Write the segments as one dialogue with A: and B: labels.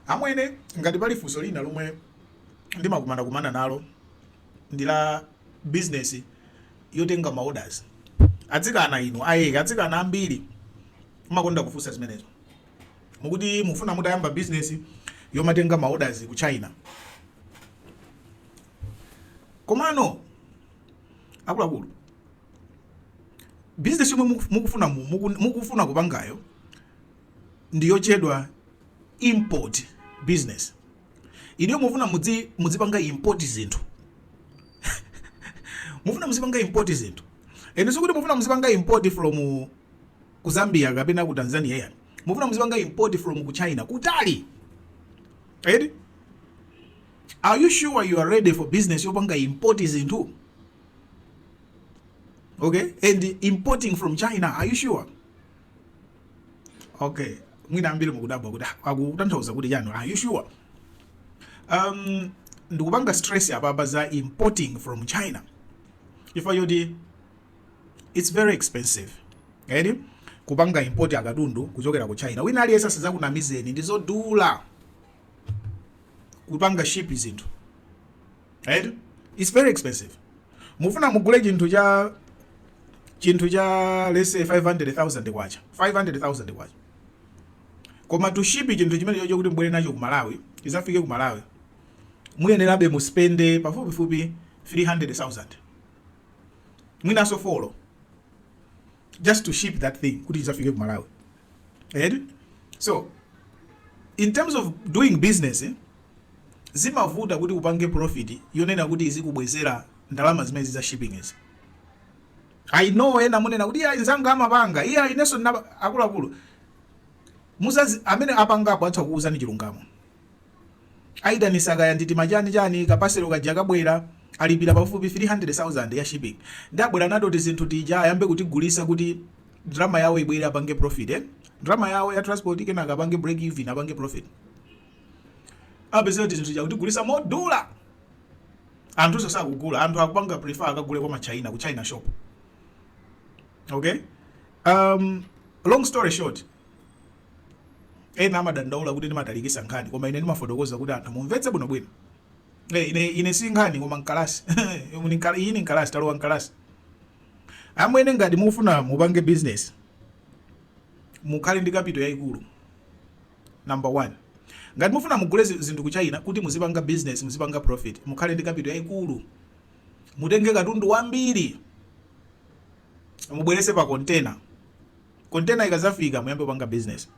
A: Amwene, ngati pali funso lina lomwe ndimakumana kumana nalo ndi la business yotenga ma orders. Atsikana inu, aya atsikana ambiri mmakonda kufunsa zimenezo. Mukuti mufuna mutayamba business yomatenga ma orders ku China. Komano akuluakulu business yomwe mukufuna muku, mukufuna kupangayo ndi yotchedwa import business inuyo mufuna mudzi- mudzipanga import zinthu mufuna muzipanga import zinthu and sikuti mufuna muzipanga import from ku zambia kapena ku tanzania ayi mufuna muzipanga import from ku china kutali right are you sure you are ready for business yopanga import zinthu okay and importing from china are you sure okay mwina ambiri mukudabwa kuti ah, akutanthauza kuti chani are you sure um ndikupanga stress apapa za importing from china chifukwa choti it's very expensive right kupanga import akatundu kuchokera ku china wina aliyense asazakunamizeni ndizodula kupanga ship zinthu right it's very expensive mufuna mugule chinthu cha chinthu cha let's say 500000 kwacha 500000 kwacha koma to ship chinthu chimenechocho kuti mubwere nacho ku malawi chizafike ku malawi muyenerabe muspende pafupifupi 300000 mwinanso four just to ship that thing kuti chizafike ku malawi right so in terms of doing business eh, zimavuta kuti upange profit yonena kuti izikubwezera ndalama zimenezi za shipping izi i know ena munena kuti iya inzanga amapanga iya inenso ndinapa- akuluakulu anzanu amene apangapo atha kukuuzani chilungamo aitanisa kaya ndi tima chani chani ka paselo kaja kabwera alipira pafupifupi 300,000 ya shipping ndiye abwera nato tizinthu tija ayambe kutigulisa kuti ndalama yawo ibwere apange profit eh? ndalama yawo ya transport kenaka apange break even apange profit apezera tizinthu tija kutigulisa modula anthu sakugula anthu akupanga prefer akagule kwa machina ku china shop okay um, long story short Ena amadandaula kuti ndimatalikisa nkhani koma ine ndimafotokoza kuti anthu mumvetse bwinobwino. Eh, ine, ine si nkhani koma mkalasi. iyi ni mkalasi, talowa mkalasi. Amwene ngati mufuna mupange business mukhale ndi kapito yaikulu number one. Ngati mufuna mugule zinthu ku China kuti muzipanga business, muzipanga profit, mukhale ndi kapito yaikulu. Mutenge katundu wambiri mubwerese pa container Container ikazafika muyambe kupanga business.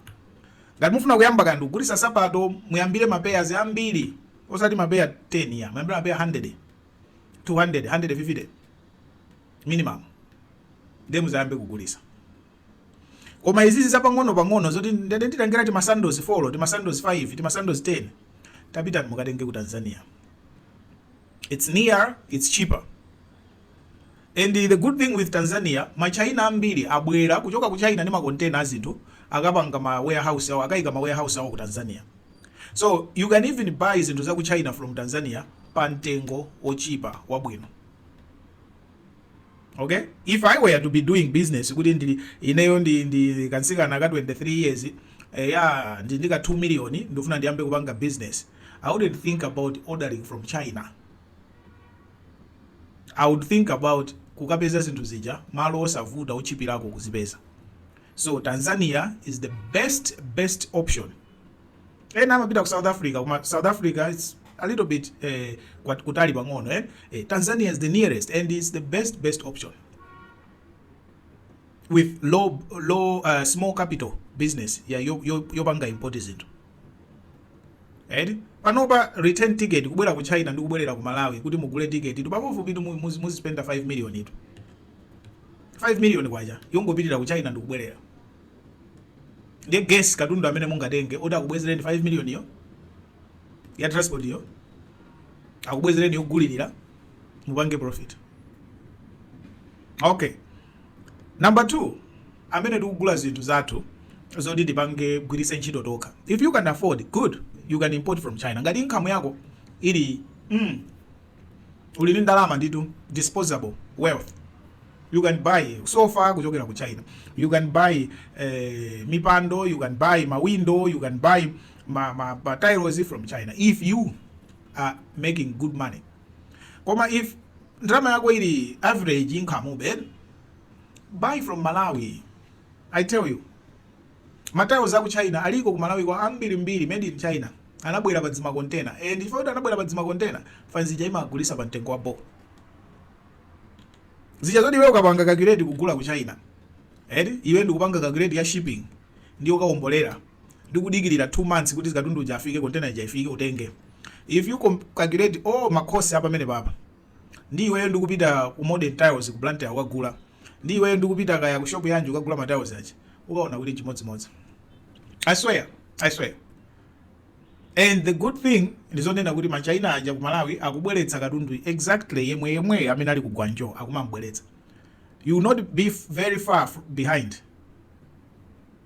A: Ngati mufuna kuyamba kaya ndikugulisa sapato muyambire ma pairs ambiri osati ma pair 10 iya muyambire ma pair hundred, two hundred, hundred fifty minimum ndiye muzayambe kugulisa. Koma izizi zapang'ono pang'ono zoti ndati nditengera tima sandals four, tima sandals five, tima sandals ten tapitani mukatenge ku Tanzania its near, its cheaper. And the good thing with Tanzania ma China ambiri abwera kuchoka ku China ndi ma container a zinthu akapanga ma warehouse awo akaika ma warehouse awo ku Tanzania so you can even buy zinthu za ku China from Tanzania pa mtengo otchipa wabwino. Ok if I were to be doing business kuti ndili ineyo ndi ndi kansikana ka 23 years eh, ya ndi ndika 2 million ndifuna ndiyambe kupanga business I wouldn't think about ordering from China. I would think about kukapeza zinthu zija malo osavuta otchipirako kuzipeza so Tanzania is the best best option ena amapita ku South Africa koma South Africa it's a little bit eh, kwat- kutali pang'ono eh? Eh, Tanzania is the nearest and it's the best best option with low low uh, small capital business ya yo- yo- yopanga import zinthu Eti? Panopa return ticket kubwera ku China ndi kubwerera ku Malawi kuti mugule ticket tu pafupifupi itu muzispenda 5 million tu. 5 million kwacha yongopitira ku China ndi kubwerera. Ndiye guess katundu amene mungatenge oti akubwezereni 5 million yo ya transport yo akubwezereni yogulirira mupange profit. Okay. Number 2 amene tikugula zinthu zathu zoti tipange gwiritse ntchito tokha if you can afford good you can import from China ngati income yako ili mm, uli ndi ndalama nditu disposable wealth you can buy sofa kuchokera ku China you can buy eh, mipando you can buy ma window you can buy ma, ma, ma tiles from China if you are making good money koma if ndalama yako ili average income ube buy from malawi i tell you matiles aku china aliko ku malawi kwa ambiri mbiri made in china anabwera pa dzima container and chifukwa choti anabwera pa dzima container fanzija imagulisa pa mtengo wa bo zija zoti iwe ukapanga calculate kugula ku china eti eh? iwe ndikupanga calculate ya shipping ndi ukaombolera ndi kudikilira 2 months kuti katundu uja afike container ija ifike utenge if you calculate all ma cost apamenepapa ndi iweyo ndi kupita ku modern tiles ku blantyre kukagula ndi iweyo ndi kupita kaya ku shop yanji kukagula ma tiles aja ukaona kuti n'chimodzimodzi i swear i swear and the good thing ndizonena kuti ma china aja ku malawi akubweretsa katundu exactly yemwe yemwe amene ali ku guangzhou akumambweretsa you will not be very far behind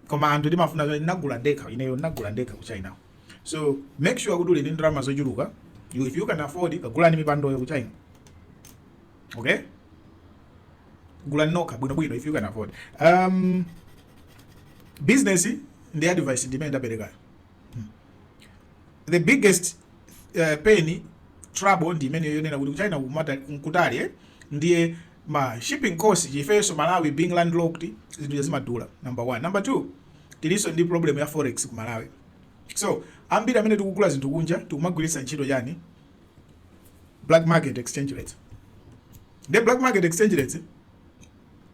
A: koma anthu timafuna zoti ndinagula ndekha ineyo ndinagula ndekha ku china so make sure kuti uli ndi ndalama zochuluka You- if you can afford kagulani mipandoyo ku china okay gulani nokha bwinobwino if you can afford um, business ndi advice ndimene ndaperekayo the biggest uh, pain trouble ndi imene yonena kuti ku china kumata nkutali eh? ndiye ma shipping cost chifeso malawi being land locked zinthu zija zimadula number one number two tiliso ndi problem ya forex kumalawi so ambiri amene tikugula zinthu kunja tikumagwiritsa ntchito chani black market exchange rate the black market exchange rate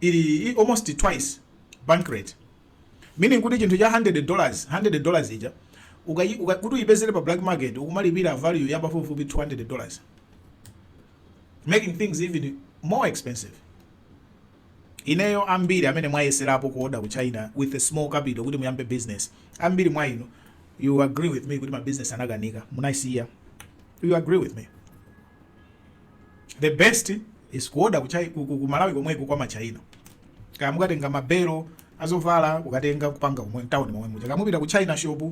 A: ili almost twice bank rate meaning kuti chinthu cha 100 dollars 100 dollars ija kuti uyipezere pa black market ukumalipira value ya pafupifupi 200 dollars making things even more expensive ineyo ambiri amene mwayeserapo kuoda ku china with a small capital kuti muyambe business ambiri mwa inu you agree with me kuti ma business anakanika munaisiya you agree with me the best is kuoda ku Chai- ku- ku- ku malawi komweko kwa ma china kaya mukatenga mabelo azovala kukatenga kupanga kumwe town momwe muja kaya mupita ku china shop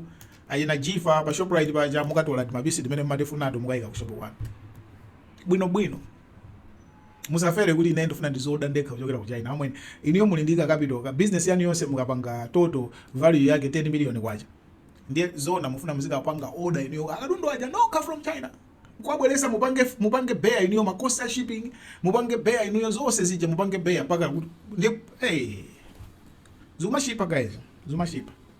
A: Achina Jifa pa Shoprite paja mukatola timapisi timene mumatifunato mukaika ku shopu kwanu bwinobwino. Musafere kuti ine ndifuna ndizioda ndekha kuchokera ku China. Amwene inuyo muli ndi ka capital ka business yanu yonse mukapanga total value yake 10 million kwacha. Ndiye zoona mufuna muzikapanga order inuyo akatundu aja nokha from China kwabweresa mupange mupange bear inuyo ma cost a shipping mupange bear inuyo zonse zija mupange bear mpaka ndiye hey zumashipa guys zumashipa